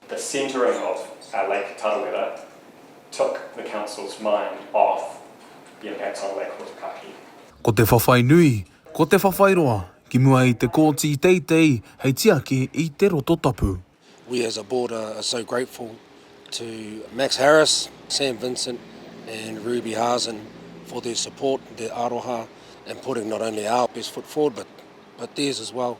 The centering of Lake Tarawera took the council's mind off the impacts on Lake Hotukahi. Ko te whawhai nui, ko te whawhai roa, ki mua i te kōti i teitei hei tiaki i te roto tapu. We as a board are so grateful to Max Harris, Sam Vincent and Ruby Hazen for their support, their aroha and putting not only our best foot forward but theirs as well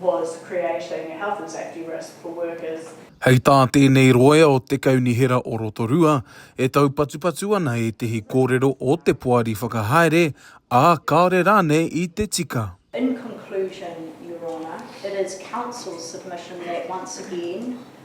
was creating a health and safety risk for workers. Hei tā tēnei roea o Te Kaunihera o Rotorua, e taupatupatu ana ētehi kōrero o te poari whakahaere, ā, kāore rānei i te tika. In conclusion, Your Honour, it is Council's submission that once again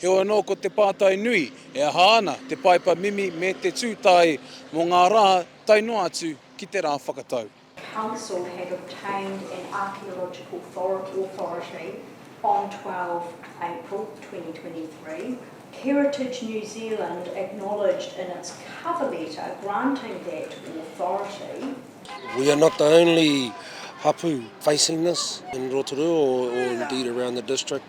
Heoi anō ko te pātai nui, e aha ana te paepa mimi me te tū tae mō ngā rā tae noa atu ki te rā whakatau? Council have obtained an archaeological authority on 12 April 2023, Heritage New Zealand acknowledged in its cover letter granting that authority, We are not the only hapu facing this in Rotorua or indeed around the district.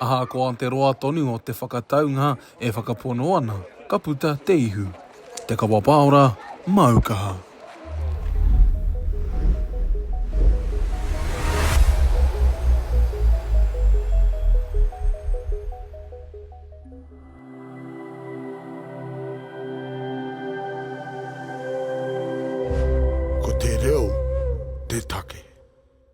Ahakoa te roa tonu o te whakataunga e whakapono ana, ka puta te ihu. Te Kawa Paora, Māu Kaha. Ko te reo te take.